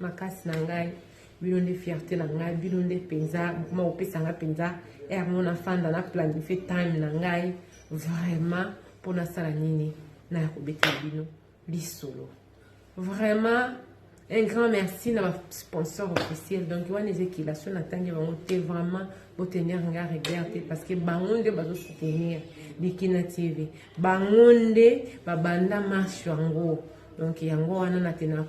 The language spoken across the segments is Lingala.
makasi na ngai bino nde fierte na ngai bino nde mpenza bokoma kopesa ngai mpenza ere mo nafanda na planifie time na ngai vraiment mpo nasala nini naya kobetela bino lisolo vraiment un grand merci na basponsor officiel donc wana eza ekila so natangi bango te vraiment botenir nga regard te parce que bango nde bazosoutenir bikina tv Bango nde babanda marche yango. Donc yango wana na tena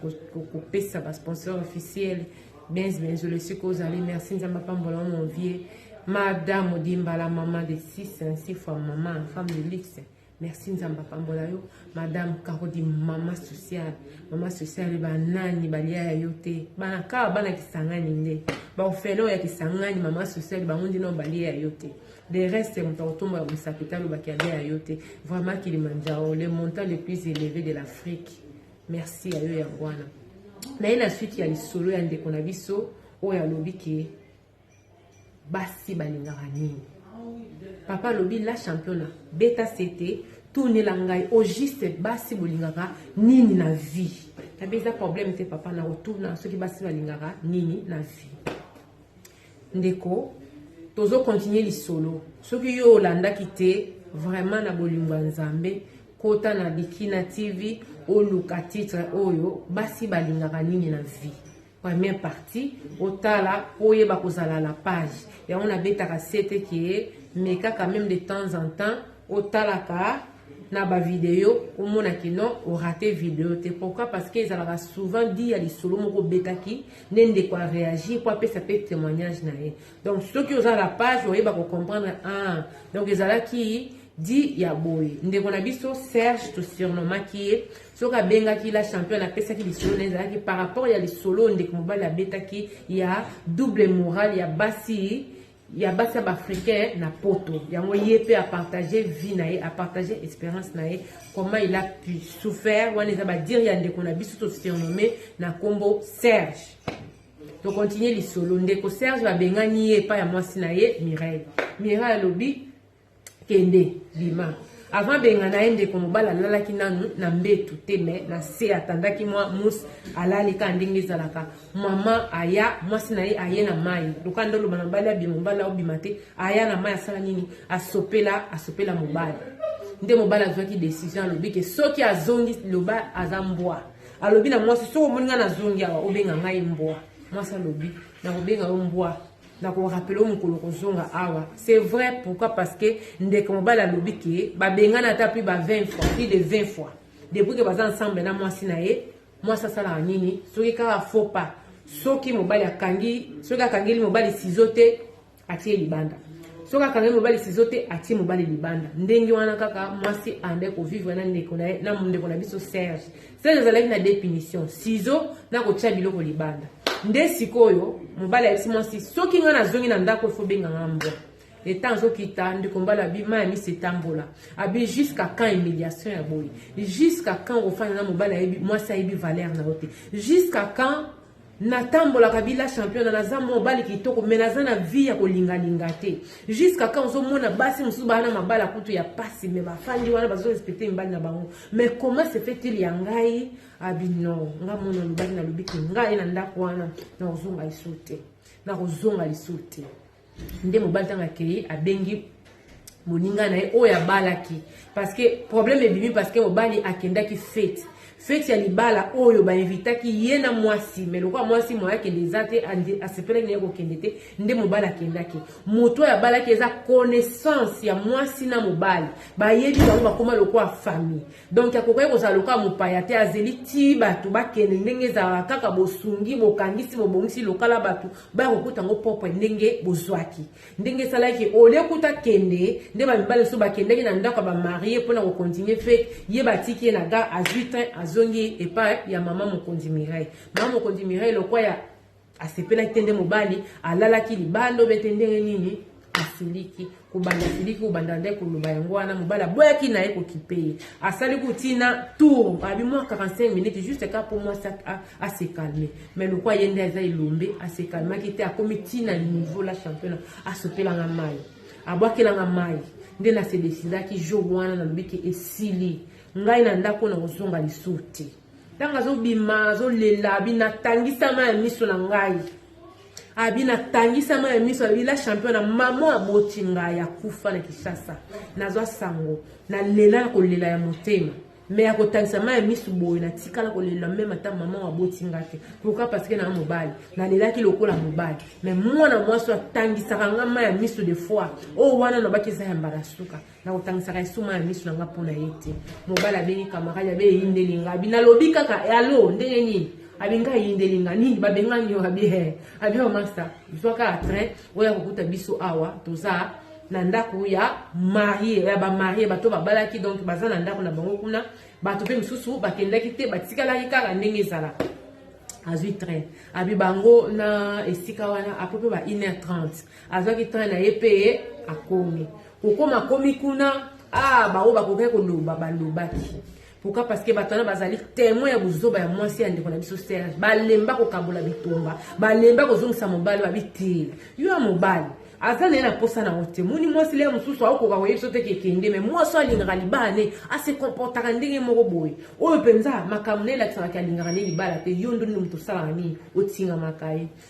kopesa ba sponsor officiel Benz Benzo le siko ozali merci nzambe apambola mon vieux Madame Odimbala maman de 6 ainsi fois maman femme de luxe merci nzambe apambola yo madame karodi mama sociale mama sociale banani balia ya yo te bana kaka bana kisangani nde baofele oyo ya kisangani mama sociale bango ndino balia ya yo te De reste, moto akotombola mosapi te alobaki ya bien ya yo te. Vraiment Kilimanjaro, le montant le plus élevé de l'Afrique. Merci ya yo yango wana. Na ye na suite ya lisolo ya ndeko na biso oyo alobi ke basi balingaka nini. Papa alobi la championna beta sete tunela ngai au juste basi bolingaka nini na vie. Tabi eza problème te papa na kotuna soki basi balingaka nini na vie. Ndeko, tozo continuer lisolo. Soki yo olandaki te, vraiment na bolingo ya Nzambe, kota na Bikina TV, oluka titre oyo, basi balingaka nini na vie. Première partie, otala, oyeba kozala la page. Yango na betaka sete ke, mekaka même de temps en temps, otalaka, na ba video omona ki non orate video te pourquoi parce que ezalaka souvent dit ya lisolo moko obetaki nde ndeko a réagir mpo apesa mpe témoignage na ye donc soki oza la page oyeba kocomprendre ah donc ezalaki di ya boye ndeko na biso serge tosurnomaki ye soki abengaki la champion apesaki lisolo na ezalaki par rapport ya lisolo ndeko mobali abetaki ya double morale ya basi ya basi ya baafricain na poto yango ye mpe apartage vie na ye apartage experience na ye comment il a pu souffert wana eza badire ya ndeko na biso tosurnomme na nkombo serge tokontinue lisolo ndeko serge babengani ye epai ya mwasi na ye mireille mireille alobi Kende, bima. Avant bengana ye ndeko mobali alalaki nanu na mbetu te me na se atandaki mwa mousse alali kaka ndenge ezalaka mama aya mwasi na ye aye na mai loka nde oloba na mobali abima mobali aobima te aya na mai asala nini asopela asopela mobali nde mobali azwaki decision alobi ke soki azongi loba aza mbwa alobi na mwasi soki omoni ngai nazongi awa obenga ngai mbwa mwasi alobi nakobenga yo mbwa na ko rappeler mokolo kozonga awa c'est vrai pourquoi parce que ndeko mobali alobi ke babengana ata plus ba 20 fois plus de 20 fois depuis ke baza ensemble na mwasi na ye mwasi asalaka nini soki kaka faux pas soki mobali akangi soki akangeli mobali sizo te atie libanda soki akangeli mobali sizo te atie mobali libanda ndenge wana kaka mwasi ande kovivre na ndeko na ye na ndeko na biso serge seke ezalaki na de punition sizo na kotya biloko libanda nde sikoyo mobali ayebisi mwasi soki ngai nazongi na ndako efo benga nga mbwa leta azokita ndeko mbala abi mai ya misi etambola abi jusqu'à quand humiliation ya boye jusqu'à quand ofanda na mobali ayebi mwasi ayebi valeur na yo te jusqu'à quand natambolaka bila championa naza mobali kitoko me naza na vie ya kolingalinga te jusqu'à quand ozomona basi mosusu baa na mabala kutu ya pasi me bafandi wana bazorespecte mibali na bango mais comment se fait-il ya ngai abino ah, nga mona lobaki nalobi te ngai na ndako wana nakozonga lisu te nakozonga lisu te nde mobali ntango akei abengi moninga na ye oyo abalaki parce que problème ebimi parce que mobali akendaki fete feti ya libala oyo bainvitaki ye na mwasi me lokola mwasi moye akende eza te asepelaki na ye kokende te nde mobali akendaki moto oyo abalaki eza connaissance ya mwasi na mobali bayebi bango bakoma lokola famille donk akokaki kozala lokola mopaya te azeli ti bato bakende ndenge ezalaka kaka bosungi bokangisi bobongisi lokala bato baya kokuta yango propre ndenge bozwaki ndenge esalaki ole kuta kende nde bamibali mosusu bakendaki na ndako ya bamarie mpo na kokontinue fete ye batiki ye na gare azwi train azongi epai ya mama mokonzi mireille mama mokonzi mireille lokwa ya asepelaki te nde mobali alalaki libanda obe te ndenge nini asiliki kobanda asiliki kobanda nde koloba yango wana mobali aboyaki na ye kokipe ye asali kotina tour abi mwa 45 minutes juste ka mpo mwasi asekalme mais lokwa ye nde aza elombe asekalmaki te akomi tina niveau la championa asopelanga mai abwakelanga mai nde nasedesidaki jour wana nalobiki esili ngai na ndako na kozonga lisusu te ntango azobima azolela abi natangisama ya miso na ngai abi natangisama ya miso abi la champion na mama aboti ngai akufa na kinshasa nazwa sango nalela na kolela ya motema me ya kotangisama ya miso boye natikala kolela meme ata mama aboti ngai te pourkui parceke naa mobali nalelaki lokola mobali me mwana mwasi atangisaka ngai ma ya miso de fois oyo wana nabaki eza ya mbala suka nakotangisaka esuma ya miso na nga mpo na ye te mobali abengi kamarade abe eyindeli nga abi nalobi kaka alo eh, ndenge nini abi nga eyindeli nga nini babengani yo abi he abi yo masta zwa kaka train oya kokuta biso awa toza na ndako ya marie ya bamarie bato babalaki donc baza na ndako na bango kuna bato mpe mosusu bakendaki te batikalaki kaka ndenge ezala azwi train abi bango na esika wana apo mpe ba 1 heure 30 azwaki train na ye mpe akomi kokoma akomi kuna ah baoyo bakokaki koloba balobaki pourquoi parce que bato wana bazali témoin ya buzoba ya mwasi ya ndeko na biso serge balemba kokabola bitumba balemba kozongisa mobali babi te yo ya mobali aza na ye na mposa na yango te moni mwasi lea mosusu aokoka koyebisa te kekende me mwasi oyo alingaka libala ne ase comportaka ndenge moko boye oyo mpenza makambo na elakisaka ke alingaka ne libala te yo ndoni moto osalaka nini otingamaka ye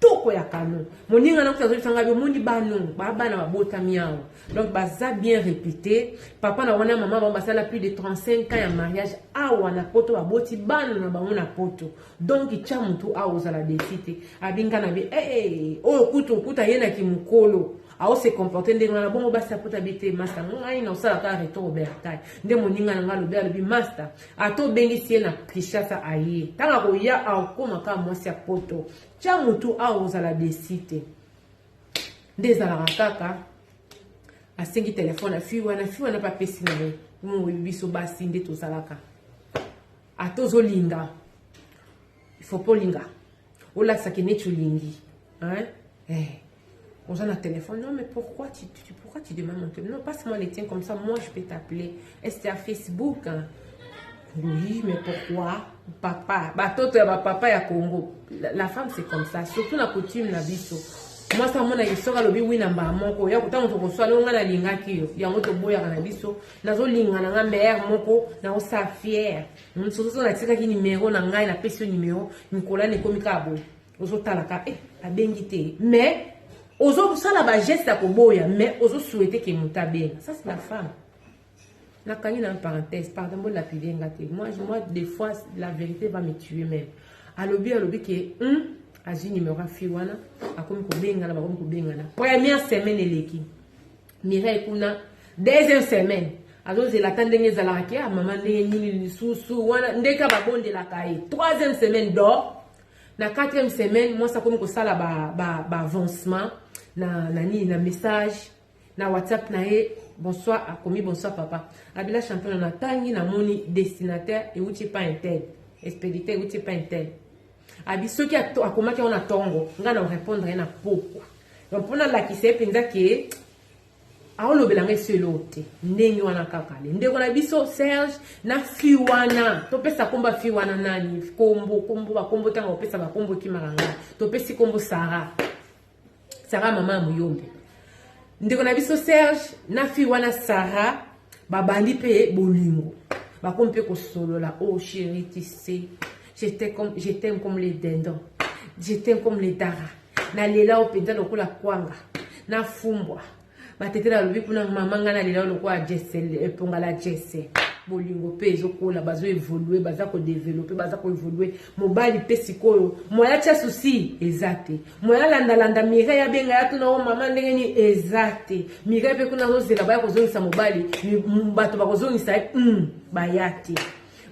toko ya kano moninga na kuta azolisa ngai omoni bano babana babotami awa donc baza bien réputé papa na wana mama bango basala plus de 35 ans ya mariage awa na poto baboti bana na bango na poto donc tya motu awa ozala desi te abinga na bi ee eh, eh, oyo kutu okuta ye na kimokolo aose comporte ndenge wana bongo basi ya poto abi te masta ngai na osalaka retour obertai nde moninga na ngai alobi alobi masta Ata obengisi ye na Kinshasa aye. Tango akoya akokoma kaka mwasi ya poto. Tya mutu awa okozala desi te. Nde ezalaka kaka asengi telefone ya fille wana, fille wana mpe apesi na ye. Oyebi biso basi nde tozalaka. Ata ozolinga il faut pas olinga olakisa ke neti olingi hein eh. oza na téléphone non mais pourquoi tu, tu, pourquoi tu demandes mon téléphone non passe moi les tiens comme ça moi je peux t'appeler est à facebook hein? oui mais pourquoi papa batoto ya bapapa ya congo la, la femme c'est comme ça surtout na coutume na biso mwasi amonaki soki alobi wi na mbala moko ya ntango tokoswa ndenge ngai nalingaki yo yango toboyaka na biso nazolingana nga meyere moko naosala fiere Nsoso natikaki numero na ngai napesi yo numero mikolo na ekomi kaka boye ozotalaka e eh, abengi te mais ozosala bageste ya koboya mais ozosuete ke moto abenga ça c'est la femme nakangi na parenthèse pardon bolapide nga te moi, moi des fois la vérité va me tuer même alobi alobi ke hum, azwi numero ya fille wana akomi kobengana bakomi kobengana première semaine eleki Mireille kuna deuxième semaine azozela ata ndenge ezalaka ke ah, mama ndenge nini lisusu wana ndenge ka babondelaka ye troisième semaine dor na quatrième semaine mwasi akomi kosala baavancement ba, ba na, na nini na message na whatsapp na ye bonsoir akomi bonsoir papa abila champion natangi namoni destinataire euti epai intel expéditeur euti epai intel Abi soki akomaki yango na tongo ngai na repondre ye na pokwa donc mpo nalakisa ye mpenza ke aolobela ngai esi eloo te ndenge wana kaka le ndeko na biso serge na fi wana topesa nkombo ya fi wana nani nkombo nkombo bakombo ntango opesa bakombo okimaka ngai topesi nkombo sara Sarah mama ya muyombe ndeko na biso Serge na fille wana Sarah babandi mpe bolingo bakomi mpe kosolola o oh, chéri tu sais je t'aime comme les dindons je t'aime comme les dara nalela yo mpenza lokola kwanga nafumbwa batetela alobi kuna mama ngai nalela lokola jese eponga la jese bolingo mpe ezokola bazo evolue baza kodevelope baza koevolue mobali mpe sikoyo moya tya susi eza te moya landalanda mirei abenga ya tuna o oh, mama ndenge nini eza te mirei mpe kuna azozela baya kozongisa mobali bato bakozongisa ye mm, baya te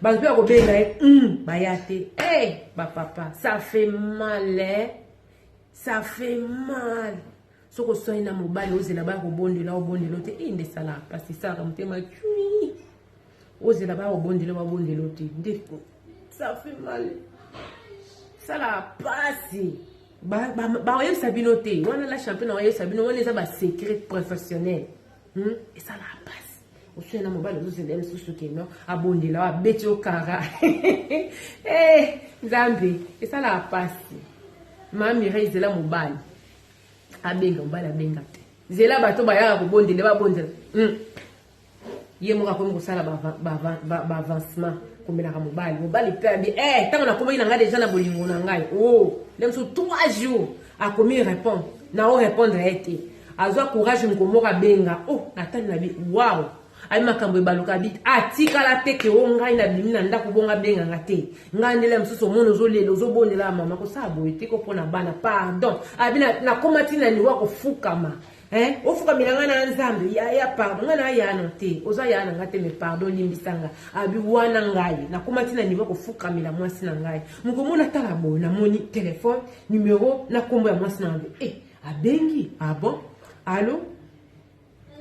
bato mpe bakobenga ye mm, baya te e hey, eh, bapapa ça fait mal eh? ça fait mal soki oswani na mobali ozela baya kobondela obondela te e nde esalaka mpasi esalaka motema cui ozela baya kobondela babondela te nde ça fait mal esalaka mpasi bakoyebisa bino te wana la champion na koyebisa bino wana eza basecret professionnel hmm? esalaka mpasi oswani na mobali ozozela mosusu keno abondela abeti yo kara eh, nzambe esalaka mpasi mamire ezela mobali abenga mobali abenga te zela bato bayaka kobondele babondela hmm. ye moko akomi kosala baavancement komelaka mobali mobali mpe abi eh, ntango nakomaki na ngai deja na bolingo na ngai o oh, nde mosusu trois jours akomi répondre na o répondre ye te azwa courage moko moko abenga o oh, natali na bi waw ayi makambo ebaluka bi atikala ah, te ke o ngai nabimi na ndako bongo abenga nga te ngai ndele ya mosusu omoni ozolela ozobondela ya mama kosala boye te ko mpo na bana pardon abi ah, nakoma ti na niwa kofukama eh, ofukamela ngai na nzambe yaya pardon ngai na yano te oza yaya na ngai te me pardon limbisa ngai abi ah, wana ngai nakoma ti na nivo kofukamela mwasi na ngai mokomo natala boye namoni telefone numero na nkombo ya mwasi na ngai eh, abengi abon ah alo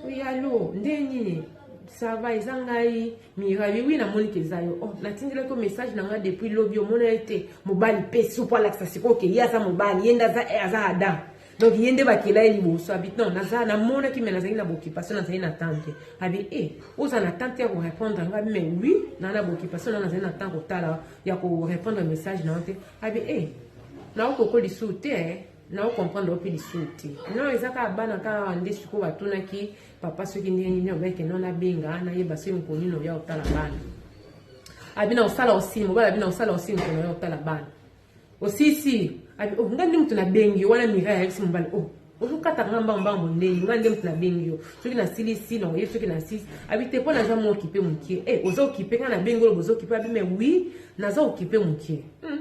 Oui, allô, nde nini ça va eza ngai mirabi wi namoni ke eza yo oh, natindelaki yo message na ngai depuis lobi omona ye te mobali mpe supu alakisa sikoyo ke ye aza mobali ye nde aza eh, aza adam donc ye nde bakela ye liboso abi non naza namonaki me nazali na boccupation nazali na temps te abi e eh, oza na temps te ya korépondre ngai me wi naa na boccupation na nazali na temps kotala ya korépondre message na yo te abi e eh, naokokolisusu te na ocomprendre ope lisusu te non eza kaka bana kaka awa nde sikoyo batunaki papa soki ndenge nini obeke non nabenga nayeba soki mokolo nini oya kotala bana abina kosala osili mobali abina kosala osili mokolo oya kotala bana osisi oh, nga nde moto nabengi wana mira yayebisi mobali o oh, ozokataka nga mbango mbango ndenge nga nde moto nabengi yo soki nasilisi na oye soki nasilisi abi te mpo naza mwa okipe mokie e eh, oza okipe nga nabengi oloba oza okipe abi me wi naza okipe mokie hmm.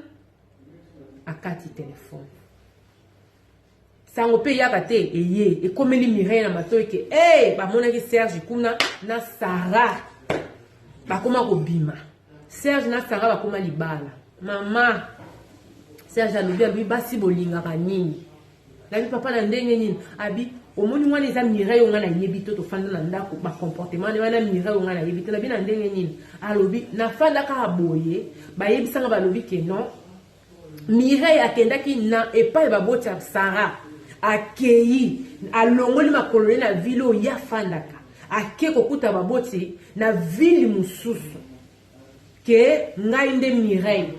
akati telefone sango mpe eyaka te eye ekomeli mireille na matoi ke e bamonaki serge kuna na sara bakoma kobima serge na sara bakoma libala mama serge alobi alobi basi bolingaka nini Nani papa na ndenge nini abi omoni wana eza mireille onga na yebi to tofanda na ndako ba comportement ne wana mireille onga na yebi te na bina ndenge nini alobi na fanda kaka boye bayebisa nga balobi ke non mireille akendaki na epai baboti ya sara akei alongoli makolo ne na vile oyo ye afandaka ake kokuta baboti na vile mosusu que ngai nde Mireille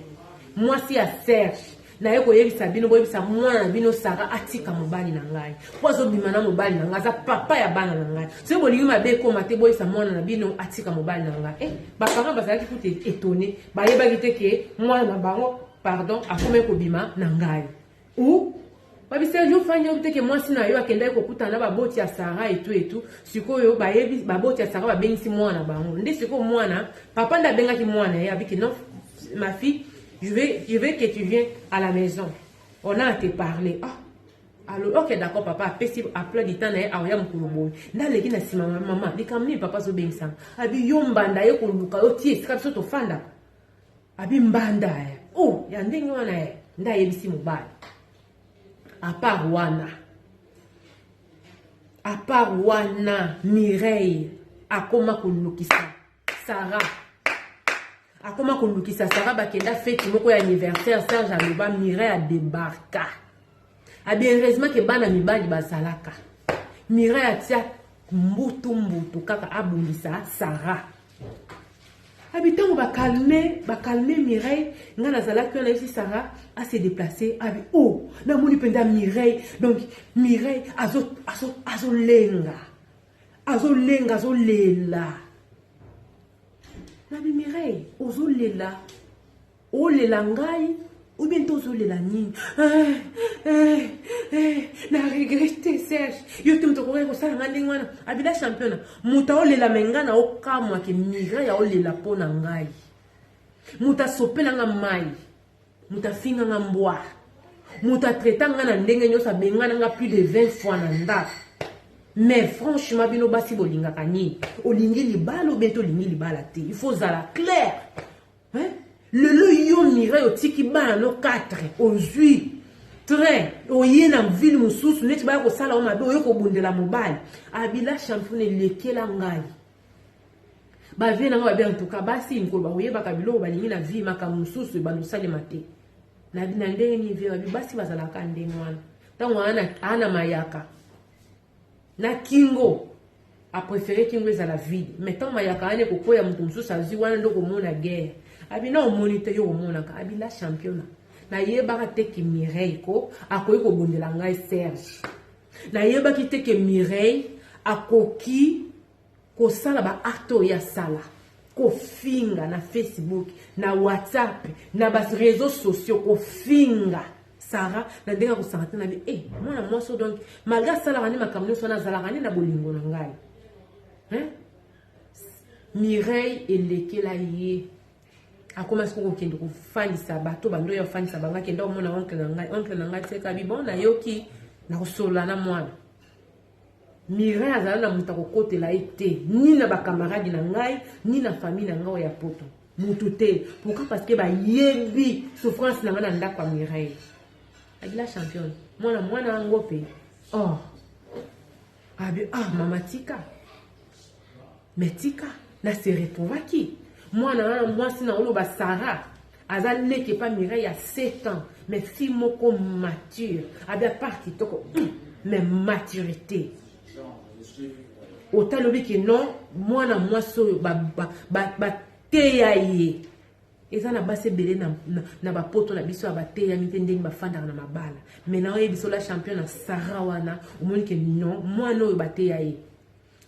mwasi ya Serge naye koyebisa bino boyebisa mwana na bino Sara atika mobali na ngai mpo azobima na mobali na ngai aza papa ya bana na ngai soki bolingi mabe ekoma te boyebisa mwana na bino atika mobali na ngai eh, baparent bazalaki kutu etone bayebaki te ke mwana na bango pardon akomaki kobima na ngai ou babisi un jour fani oyebi te ke mwasi na yo akendaki kokutana na baboti ya sara etu etu sikoyo bayebi baboti ya sara babengisi mwana na bango nde sikoyo mwana papa nde abengaki mwana ye abiki non ma fille je vais, je vais que tu viens à la maison on a à te parler ah alobi ok d'accord papa apesi apla dita na ye aoya mokolo boye nde aleki na nsima mama likambo nini papa azobengisanga abi yo mbanda ye koluka yo tie esika biso tofandaka abi mbanda eh. oh, ya ndenge wana eh. nde ayebisi mobali apart wana apart wana mireille akoma kolukisa sara akoma kolukisa sara bakenda feti moko ya anniversaire serge aloba mireille adebarka Abi ah, heureusement ke bana mibali bazalaka. Mira ya tia mbutu mbutu kaka abundisa Sarah. Abi ah, tango ba calme, ba calme Mireille, nga nazalaki wana yesi Sarah a se déplacer. Abi ah, oh, na moni penda Mireille. Donc Mireille azo azo azo lenga. Azo lenga, azo lela. Nabi Mireille, ozo lela. Olela ngai ou bien to ozolela nini eh, eh, eh, na regrete serge yo te moto akokaki kosala nga ndenge wana abila championa moto aolela me ngai na okamwa ke migra ya olela mpo na ngai moto asopela nga mai moto afinga nga mbwa moto atraita nga na ndenge nyonso abengana nga plus de 20 fois na ndako mais franchement bino basi bolingaka nini olingi libala obe te olingi libala te il faut ozala claire Hein? Lelo yo Mireille otiki bana no 4 ozui train oye na ville mosusu neti baya kosala o mabe oye kobundela mobali abila champion elekela ngai bavie na ngai babi antuka basi mikolo bakoyebaka biloko balingi na vie makambo mosusu ebanda osalema te na ndenge nini vie babi basi bazalaka ndenge wana ntango ana mayaka na kingo a prefere kingo ezala vide mais ntango mayaka wana ekokwea moto mosusu azwi wana nde okomona guerre abina omoni te yo omonaka abila championa nayebaka te ke mireille ko akoki kobundela ngai serge nayebaki te ke mireille akoki kosala ba acte oyo asala kofinga na facebook na whatsapp na ba réseaux sociaux kofinga sara na ndenge ya kosanga te na bi e eh, mwana mwasi o donc malgre asalaka nde makambo nyonso wana azalaka nde na bolingo na ngai mireille elekela ye akomaki soko kokende kofandisa bato bando ya kofandisa bango akenda omona oncle na ngai oncle na ngai tekabi bon nayoki nakosolola na mwana Mireille azala na moto akokotela ye te ni na bakamaradi na ngai ni na famille na ngai ya poto motu te pourquoi parce que bayebi souffrance na ngai na ndako ya Mireille agila championne mwana mwana yango mpe oh abi ah mama tika Mais tika, na se retrouvaki. Mwana wana mwasi na oloba Sarah aza leki epa Mireille ya 7 ans mais fille moko mature abi apart kitoko hmm, mais maturité otali obi ke non mwana mwasi oyo bateya ye eza na basi ebele na, na, na bapoto na biso ya bateyami te ndenge bafandaka na mabala mai na oyebisa ola champion na sara wana omoni ke non mwana oyo bateya ye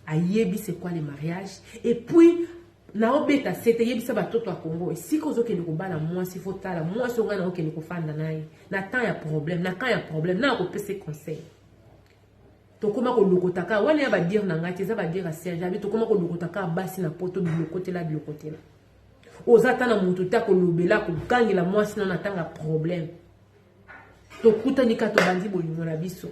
ayebi c'est quoi le mariage et puis naobeta sete yebisa batoto ya congo esika ozokende kobala mwasi fo tala mwasi ongai naokende kofanda na ye na temps ya problème na camp ya problème na akopesa conseil tokoma kolokota kaka wana ya badire na ngai te eza badire ya serge abi tokoma kolokota kaka basi na poto bilokotela bilokotela oza ata na moto te akolobela kogangela mwasi na na ntango ya problème tokutani kaka tobandi bolingo na biso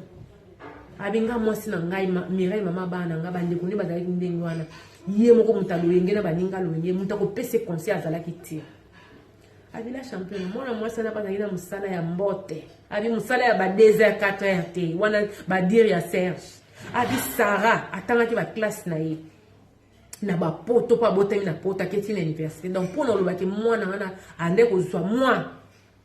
abi nga mwasi na ngai mirai mama bana na ngai bandeko nde bazalaki ndenge wana ye moko moto aloyenge na baninga loyenge moto akopesa conseil azalaki te abila champion mwana mwasi wana bazalaki na mosala ya mbote abi mosala ya ba 2 heures 4 heures te wana badire ya serge abi sara atangaki baklasse na ye na bapoto mpo abotami na poto aketi na université donc mpo na olobaki mwana wana ande kozwa mwa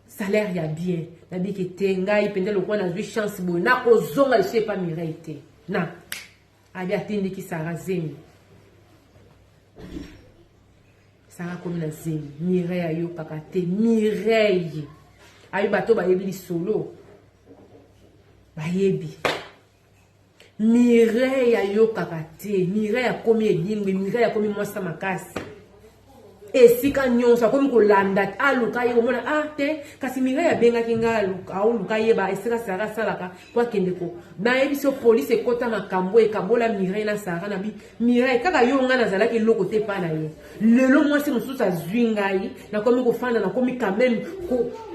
salaire ya bien nabike te ngai mpenza lokola nazwi chance boye nakozonga lisusu epa mirai te na abi atindiki sara zemi sara akomi na zemi mirai ayokaka te mirai ayebi bato bayebi lisolo bayebi Mireille ayokaka te Mireille akomi edingwe Mireille akomi mwasa makasi esika nyonso akomi kolanda aluka ye komona ah te kasi Mireille abengaki ngai aoluka yeba esika Sarah asalaka po akende ko nayebisi yo polisi ekota makambo ekabola Mireille na Sarah na bi Mireille kaka yo ngai nazalaki eloko te epai na yo lelo mwasi mosusu azwi ngai nakomi kofanda nakomi quand même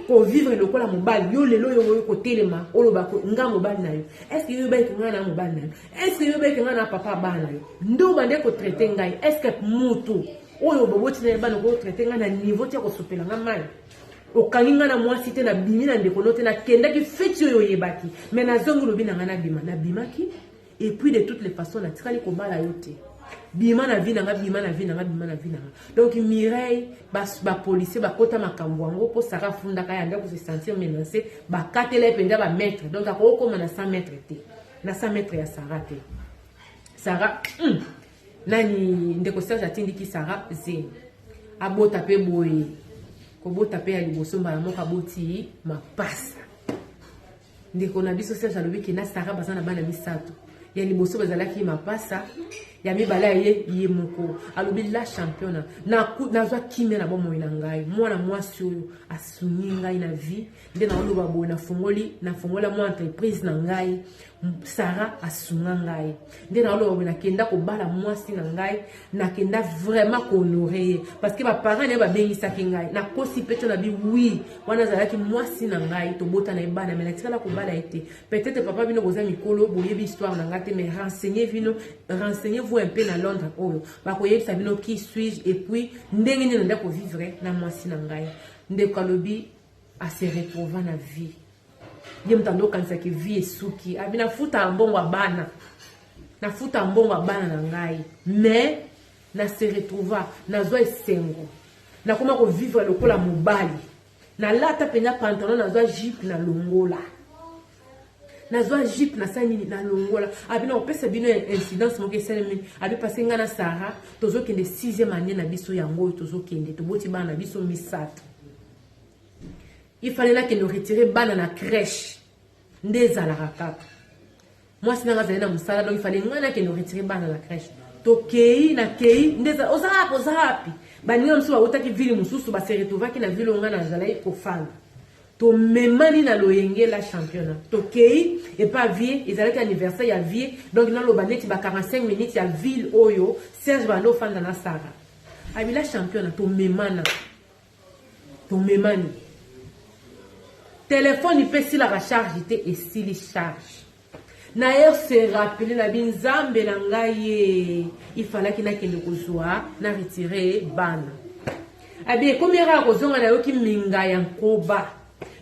kovivre ko lokola mobali yo lelo yo oyo kotelema oloba nga mobali na yo estce yo yobaki ngai na mobali na yo estce yo yobaki ngai na papa bana na yo nde obande kotraite ngai estce motu oyo boboti na ye bana okoki kotraite ngai na niveau ti ya kosopela ngai mai okangi ngai na mwasi te nabimi na ndeko no te nakendaki feti oyo oyebaki me nazongi lobi na ngai nabima nabimaki et puis de toutes les façons natikali kobala yo te bima na vie na nga bima na vie na nga bima na vie na nga donc mireille bapolicier ba bakota makambo yango mpo saka afundaka ya ndako se sentir menance bakatela ye mpenza bamaitre donc akoki kokoma na 100 mètre te na 100 mètre ya sara te sara mm, nani ndeko serge atindiki sara zemi abota mpe boye kobota mpe ya liboso mbala moko aboti mapasa Ndeko na biso Serge alobi ke na Sarah baza na bana misato. Ya liboso bazalaki mapasa, ya mibale ye ye moko. Alobi la championa na nazwa kimia na bomoi na ngai. Mwana mwasi oyo asungi ngai na vie nde naoloba boye nafungoli nafungola mwa entreprise na ngai. Sarah asunga ngai nde naoloba boye nakenda kobala mwasi na ngai nakenda vraiment kohonore ye parce que baparent naye babengisaki ngai nakosi mpeto na bi wi wana azalaki mwasi na ngai tobota na ye bana mai natikala kobala ye te peut-être papa bino boza mikolo boyebi histoire na ngai te mais renseigne bino renseigne vous un peu na londres oyo bakoyebisa bino qui suis-je et puis ndenge nini nanda kovivre na mwasi na ngai ndeko alobi a se retrouva na vie ye moto ando okanisa ke vie esuki abi ah, nafutaka mbongo ya bana nafutaka mbongo ya bana na ngai mais na se retrouva nazwa esengo nakoma kovivre lokola mobali nalata mpenza pantalon nazwa jipe na longola nazwa jipe nasala nini na longola abi na kopesa bino incidence moko esalemi abi pase ngai na sara tozokende sixième année na biso yango oyo tozokende toboti bana na biso misato il fallait nakende retire bana na crèche nde ezalaka kaka mwasi nanga azali na mosala donc ifale ngai nakende retire bana na crèche tokei nakei nde oza wapi oza wapi baninga mosusu bautaki ville mosusu baseretovaki na ville oyo ngai nazalaki kofanda tomemani na loyenge la championna tokei epa vie ezalaki anniversaire ya vie donc naloba neti ba 45 minutes ya ville oyo serge banda ofanda na sara abila championna tomemana tomemani telefone mpe esilaka charge te esili charge naye se rappele na bi nzambe na ngai ye ifalaki nakende kozwa na retire bana abi ekomi yaka ya kozonga nayoki minga ya nkoba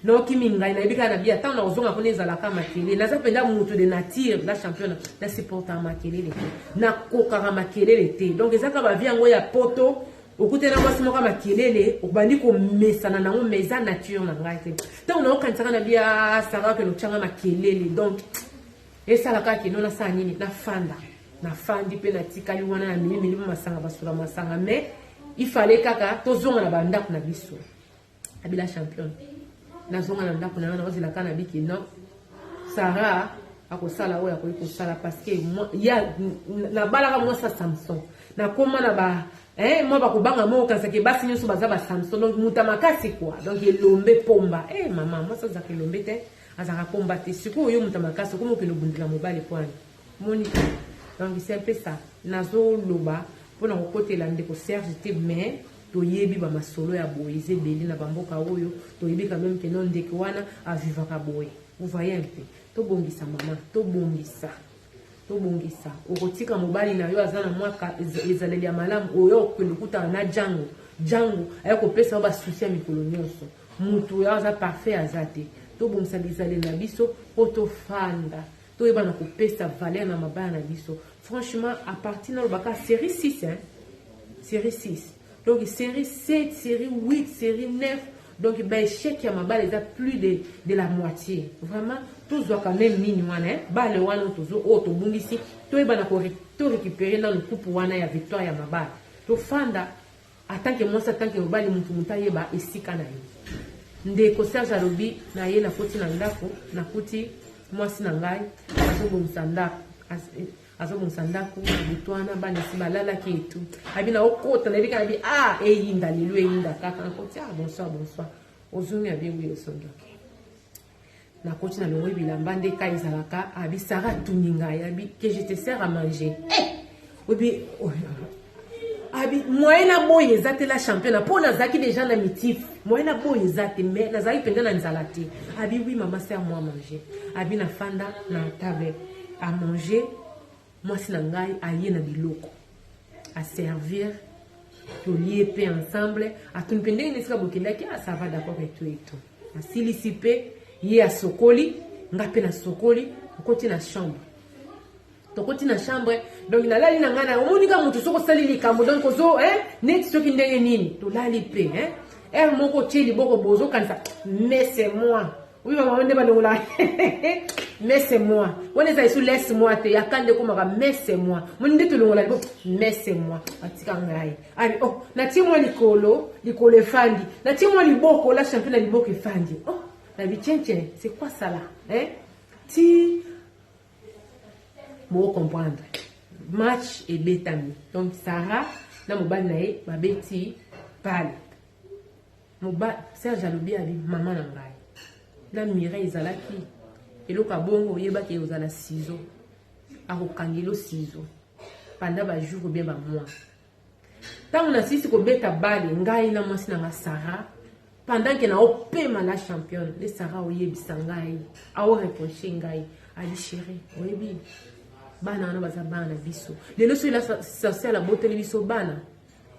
nayoki mingai nayebi kaka na bi ata nakozonga kuna ezalaka makelele naza mpenza moto de nature na champion na supportaka makelele te nakokaka makelele te donc ezaka bavie yango ya poto okute na mwasi moko ya makelele obandi komesana nango mais eza nature na ngai te ntango naokanisaka na bia ah, sara ke notyanga makelele donc esala kaka kino nasala nini nafanda nafandi mpe natikali wana na mimi milimo masanga basula masanga mais ifale kaka tozonga na bandako na biso Abila champion. Nazonga na ndako na nga nakozela kaka na biki non. Sarah akosala oyo akoki kosala parce que ya nabalaka mwasi ya Samson. Nakoma na ba eh mwa bakobanga moko kansaki basi nyonso baza ba Samson donc muta makasi quoi. Donc elombe pomba. Eh mama mwasi azaka elombe te. Azaka pomba te. Sikoyo yo muta makasi okomi okende obundela mobali kwani. Moni donc c'est un peu ça. Nazoloba mpo na kokotela ndeko Serge te mais Toyebi ba masolo ya boye eza ebele na ba mboka oyo, toyebi quand meme que non ndeke wana a vivaka boye. Vous voyez un peu? Tobongisa mama, tobongisa. Tobongisa. Okotika mobali na yo aza na mwa ezaleli ya malamu oyo okende okutana na Django. Django aye kopesa yo ba soucis ya mikolo nyonso. Mutu oyo aza parfait aza te. Tobongisa bizaleli na biso po tofanda. toyeba na kopesa valeur na mabala na biso franchement à partir na lobaka série 6 hein série 6 donc série 7 série 8 série 9 donc ba échec ya mabala eza plus de, de la moitié vraiment tozwaka meme nini wana hein? bale wana tozo oyo oh, tobungisi toyeba na to récupérer nanu coupe wana ya victoire ya mabala tofanda atanke mwasi atanke mobali motu motu ayeba esika na ye ndeko serge alobi na ye nakoti na ndako nakuti mwasi na ngai azobongisa ndako eh, azobongisa ndako butu wana bana esi balalaki etu abi na okota nayebi kanabi a ah, eyinda lelo eyinda kaka nakoti a ah, bonsoir bonsoir ozongi abi ewi osondoki nakoti na longoyi bilamba nde ka ezalaka abi sara atuni ngai abi ke je te sert à manger eh! obi oh, abi moyen na boye eza te la championa mpo nazalaki deja na mitif moyen na boye eza te mais nazalaki mpenza na nzala te abi wi mama sert moi manger abi nafanda na table à manger Mwasi na ngai aye na biloko a servir tolie pe ensemble atuni pe ndenge nesika bokendaki ah ça va d'accord et tout et tout asilisi pe ye asokoli nga pe nasokoli okoti na chambre tokoti na chambre donc nalali na ngai na omoni ka moto soki osali likambo donc ozo eh, neti soki ndenge nini tolali pe eh. heure moko otie liboko bozokanisa mais c'est moi Oui maman nde balongola mais c'est moi wana ezali su laisse moi te yaka nde ekomaka mais c'est moi moni nde tolongola libo mais c'est moi batika ngai abi oh natie mwa likolo likolo efandi natie mwa liboko la champion na liboko efandi oh nabi tiencien c'est quoi ça là hein ti boko comprendre match ebetami donc sarah na mobali na ye babeti pale Moba Serge alobi abi maman na ngai na Mireille ezalaki eloko abongo oyebaki ekozala sizo akokangelo sizo panda ba jour obien ba mois ntango nasisi kobeta bale ngai na mwasi na nga sara pendant ke naopema na championne nde sara oyebisa ngai aoreproche ngai ali sheri oyebi bana wana baza bana na biso lelo soki social abotoli biso bana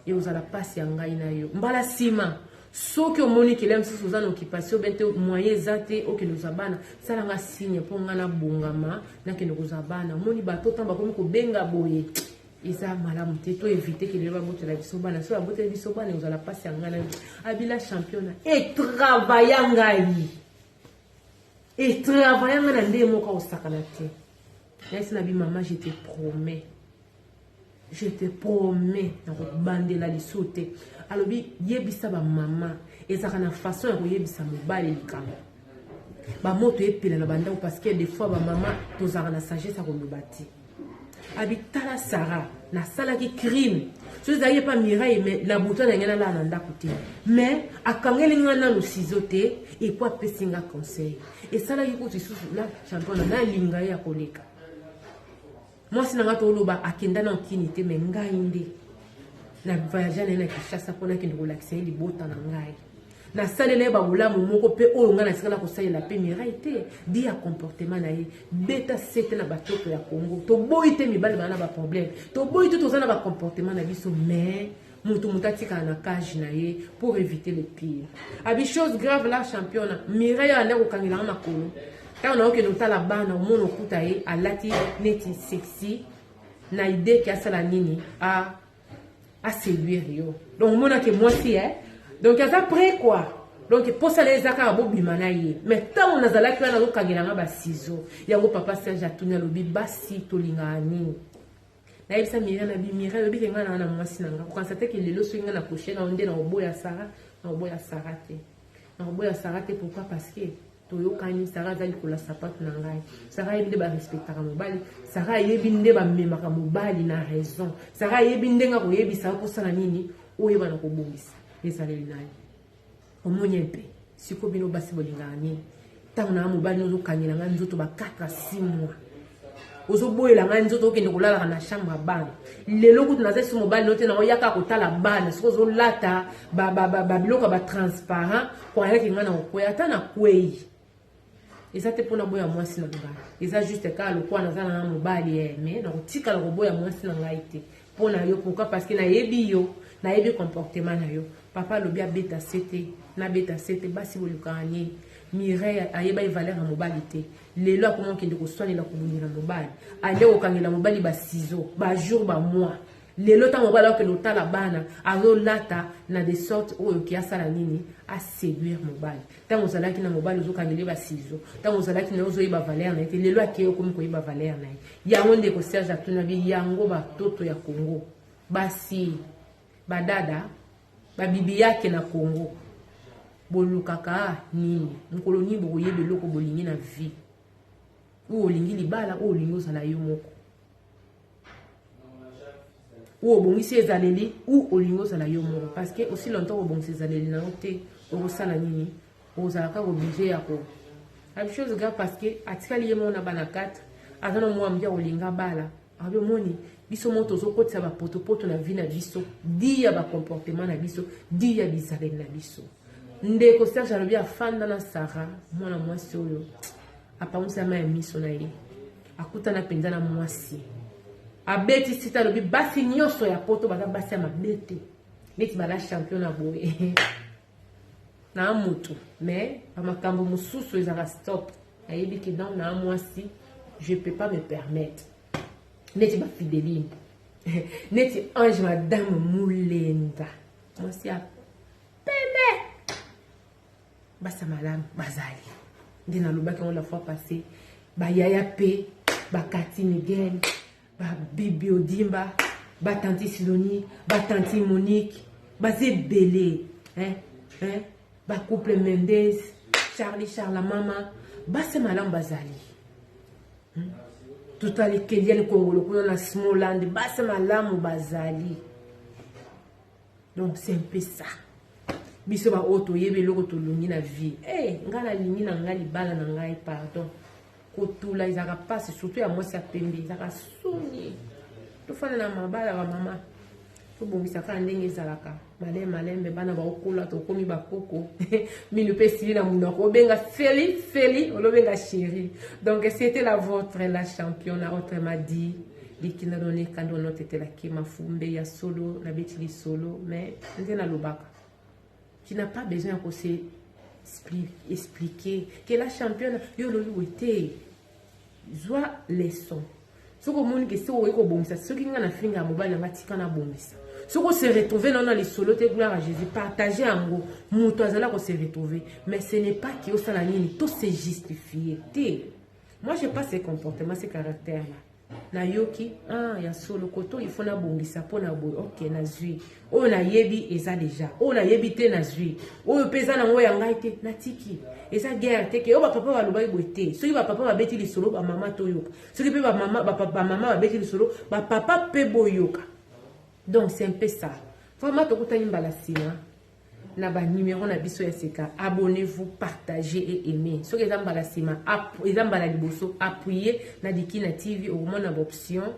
ekozala pasi ya ngai na yo mbala nsima soki omoni kela mosusu oza na occupation bete moyen eza te okende kozwa bana sala nga signe mpo ngai nabongama nakende kozwa bana omoni bato ntango bakomi kobenga boye eza malamu te to evite kelelo babotela biso bana so baboteli biso bana ekozala mpasi ya ngai na yo abila championa etravaya ngai etravaya ngai na ndenge moko akosakana te nayesi na bimama je te promets je te promets nakobandela liso te alobi yebisa bamama ezalaka na façon ya koyebisa mobali likambo bamoto epela na bandako parce que des fois bamama tozalaka na sagesse ya koloba te abitala sara nasalaki crime so ezalaki epa mirai me na buta na ngai nalala na ndako te mais akangeli ngai nano sizo te epo apesi ngai conseil esalaki kutu lisusu na championa nalinga ye ya koleka mwasi na ngai toloba akenda na nkini te me ngai nde na voyage na ye na kinshasa mpo nakende kolakisa ye libota na ngai nasalela ye babolamu moko mpe oyo ngai natika na kosalela mpe mirai te bi ya comportement na ye beta sete na batoko ya congo toboyi te mibali baa na baproblème toboyi te toza na bacomportement na biso mais mutu mutu atikala na cage na ye pour éviter le pire abi chose grave la championa mireille alandi akokangelanga makolo ntango naokende otala bana omona okuta ye alati neti sexy na idee ke asala nini a aseduire yo donc omonake mwasi e donc aza près quoi donc mposa na ye eza kaka bobima na ye mai ntango nazalaki wana azokangelanga basizo yango papa serge atuni alobi basi tolingaka nini nayebisa mira na bi mira yobi ke ngai naa na mwasi na ngai kokanisa te ke lelo soki ngai nakoshe na yo nde nakoboya sara nakoboya sara te nakoboya sara te pourkui parce que toyokani sara aza likolo ya sapatu na ngai sara ayebi nde barespectaka mobali sara ayebi nde bamemaka mobali na raison sara ayebi ndenge akoyebisa yo mposana nini oyebana kobongisa ezaleli na ye omonye mpe siko bino basi bolingaka nini ntango na mobali ozokangela ngai nzoto ba 4 a 6 mois ozoboyela ngai nzoto okende kolalaka na chambre ya bana lelo kutu naza esi mobali no te nango yaka kotala bana soki ozolata babiloko ya batransparent koyaki ngai na kokwei ata nakwei eza te mpo naboya mwasi na ngai eza juste kaka lokola naza na ngai mobali ye eh, me nakotikala koboya mwasi na ngai te mpo na yo pourkui parce que nayebi yo nayebi comportement na yo papa alobi abeta se te nabeta se te basi bolukaka nini mireille ayebaki valeur ya mobali te lelo akoma okende koswanela kobundela mobali ale kokangela mobali basizo bajour bamois Lelo tango mobali akende otala bana azolata na de sorte oyo ki asala nini a séduire mobali ntango ozalaki na mobali ozokangeli ba sizo ntango ozalaki na ye ozoyeba valeur na ye te lelo akei okomi koyeba valeur na ye yango ndeko serge atuna bi yango batoto ya congo basi badada babibi yake na congo bolukaka nini mokolo nini bokoyeba eloko bolingi na vie oyo olingi libala oyo olingi ozala yo moko ou obongisi ezaleli ou olingi ozala yo moko parce que aussi longtemps kobongisa ezaleli na yo te okosala nini okozala kaka oblige ya ko abishose ga parce que atikali ye moko na bana 4 aza na mwa moke akolinga bala abi omoni biso moko tozokotisa bapotopoto na vie na biso di ya bacomportement na biso di ya bizaleli na biso ndeko serge alobi afanda na sara mwana mwasi oyo apangusi ama ya miso na ye akutana mpenza na mwasi abeti sita alobi basi nyonso ya poto baza basi ya mabe te neti bala champion na boye na motu mais bamakambo mosusu ezalaka stop ayebi ke donc na mwasi je peux pas me permettre neti bafideline neti ange madame mulenga mwasi ya pembe basa malamu bazali nde nalobaki yango la fois passé bayaya mpe bakati miguel babibi odimba batanti siloni batanti monique baza ebele bacouple mendes charlie charla mama basi malamu bazali hmm? totali keliani kongolo kuna na smoland basi malamu bazali donc c'est un peu ça biso baoyo toyebi eloko tolongi na vie hey, eh, ngai nalingi na ngai libala na ngai pardon kotula ezalaka mpasi surtout ya mwasi ya pembe ezalaka soni tofanda na mabala bamama tobongisa kaka ndenge ezalaka malai malembe bana baokola tokomi bakoko minu mpe esili na monoko obenga feli feli olobenga sheri donc c'était la votre la champion na autrement dit likila noneka nde onotetelaki mafumbe ya solo nabeti lisolo mais nde nalobaka tu n'as pas besoin ya kose expliquer que la championne yo olobi boye te zwa leçon soki omoni ke soki okoki kobongisa soki ngai nafinga ya mobali yanga tika nabongisa soki ose retrouve nao na lisolo te gloire ya jésus partage yango moto azali kose retrouve mais ce n'est pas ke osala nini tose justifie te Moi je pas ce comportement, ce caractère là. nayoki ah, ya solo koto ifo nabongisa mpo na boye ok nazwi oyo nayebi eza deja oyo nayebi te nazwi oyo mpe eza nango ya ngai te natiki eza guerre te ke oyo bapapa balobaki boye te soki bapapa babeti lisolo bamama toyoka soki mpe bamama babeti lisolo bapapa mpe boyoka donc c'est un peu ça vraiment tokutani mbala nsima na ba numero na biso ya sika abonnez-vous partagez et aimez soki eza mbala nsima eza mbala liboso appuye na dikina tv okomona baoption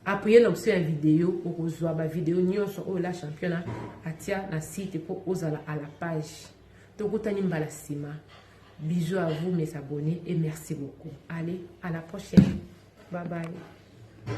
appuye na option ya video okozwa bavideo nyonso oyo la championa atia na site mpo ozala à la page tokutani mbala nsima bisous à vous mes abonnés et merci beaucoup allez à la prochaine bye bye